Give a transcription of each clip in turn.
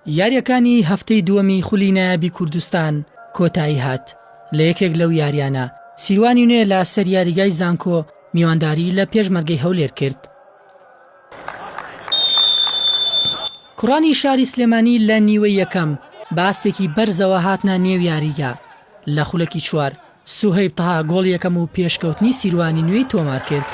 یارییەکانی هەفتەی دووەمی خولی نایابی کوردستان کۆتایی هات، لە یەکێک لەو یارییانە، سیروانی نوێ لە سەر یاریگای زانکۆ میوانداری لە پێشمەرگەی هەولێر کرد. کوڕانی شاری سلێمانی لە نیوەی یەکەم بە ئاستێکی بەرزەوە هاتنە نێو یاریگا، لە خولەکی چوار، سوهەیب تەها گۆڵی یەکەم و پێشکەوتنی سیروانی نوێی تۆمارکرد.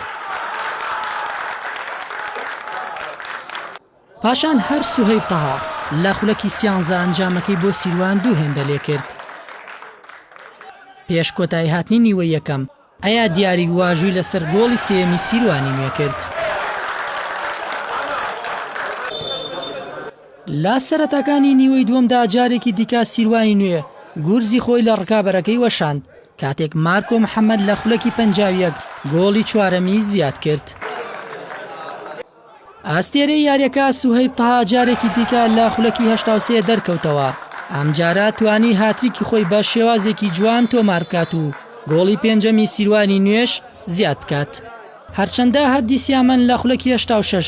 پاشان هەر سوهەیب تەها لە خولەکی سیانزە ئەنجامەکەی بۆ سیروان دوو هێندە لێکرد. پێش کۆتاییهاتنی نیوەی یەکەم، ئەیا دیاریک واژووی لەسەر گۆڵی سێیەمی سیروانی نوێکرد. لە سەرەتاکانی نیوەی دووەمدا جارێکی دیکە سیروانی نوێ گورزی خۆی لە ڕکابەرەکەی وەشاند، کاتێک مارکۆ محەمەد لە خولەکی پەنجا و یەک گۆڵی چوارەمی زیادکرد. ئەستێرەی یارییەکە سوهەیب تەها جارێکی دیکە لە خولەکی هەشتا و سێ دەرکەوتەوە، ئەمجارە توانی هاتریکی خۆی بە شێوازێکی جوان تۆماربکات و گۆڵی پێنجەمی سیروانی نوێش زیادبکات. هەرچەندە هەردی سیامەن لە خولەکی هەشتا و شەش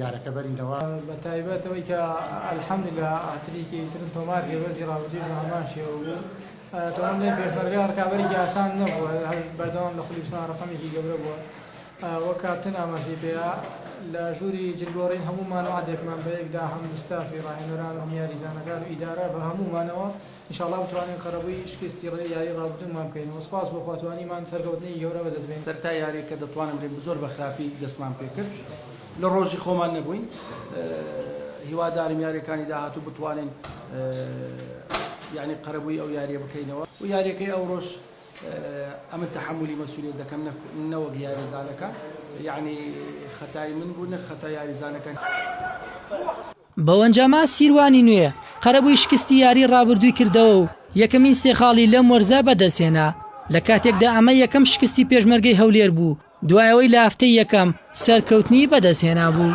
یارەکە بەرینەوە. بەتایبەت ئەوەی کە الحمدللە هاتریکی ترم تۆمار کرد وەرزی ڕابردوویش بە هەمان شێوە بوو تەواو بڵێم پێشمەرگە ڕکابەرێکی ئاسان نەبووە هەر بەردەوام لە خولی چوار ڕەقەمێکی گەورە بووە وەک کاپتن ئاماژەی پێیا لە ژووری جلگۆڕین هەموومان وەعدێکمان بەیەکدا هەم ستافی ڕاهێنەران و هەم یاریزانەکان و ئیدارە بە هەموومانەوە ان شاء اللە بتوانین قەرەبووی شکستی ڕێی یاری ڕابردوومان بکەینەوە سپاس بۆ خوا توانیمان سەرکەوتنێکی گەورە بەدەست بێنین. سەرەتا یاریەکە دەتوانم بلێم زۆر بە خراپی دەستمان پێکرد لە ڕۆژی خۆمان نەبووین هیوادارم یاریەکانی داهاتوو بتوانین یانی قەرەبووی ئەو یاریە بکەینەوە و یاریەکەی ئەوڕۆش ئەمن تەحملی مەسولیت دەکەم نەوەک یاریزانەکان یانی خەتای من بوو نەک خەتا یاریزانەکان. بەوەنجامە سیروانی نوێ قەرەبووی شکستی یاری رابردووی کردەوە و یەکەمین سێ خاڵی لەم وەرزە بەدەستهێنا، لە کاتێکدا ئەمە یەکەم شکستی پێشمەرگەی هەولێر بوو دوای ئەوەی لە هەفتەی یەکەم سەرکەوتنی بەدەستهێنابوو.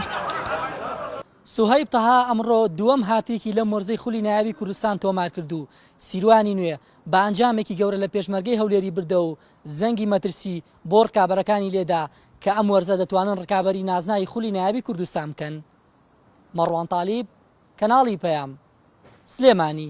سوهەیب تەها ئەمڕۆ دووەم هاتریکی لەم وەرزەی خولی نایابی کوردستان تۆمارکرد و سیروانی نوێ بە ئەنجامێکی گەورە لە پێشمەرگەی هەولێری بردەوە و زەنگی مەترسی بۆ رکابەرەکانی لێدا کە ئەم وەرزە دەتوانن رکابەری نازناوی خولی نایابی کوردستان بکەن. مەڕوان تالیب، کەناڵی پەیام، سلێمانی،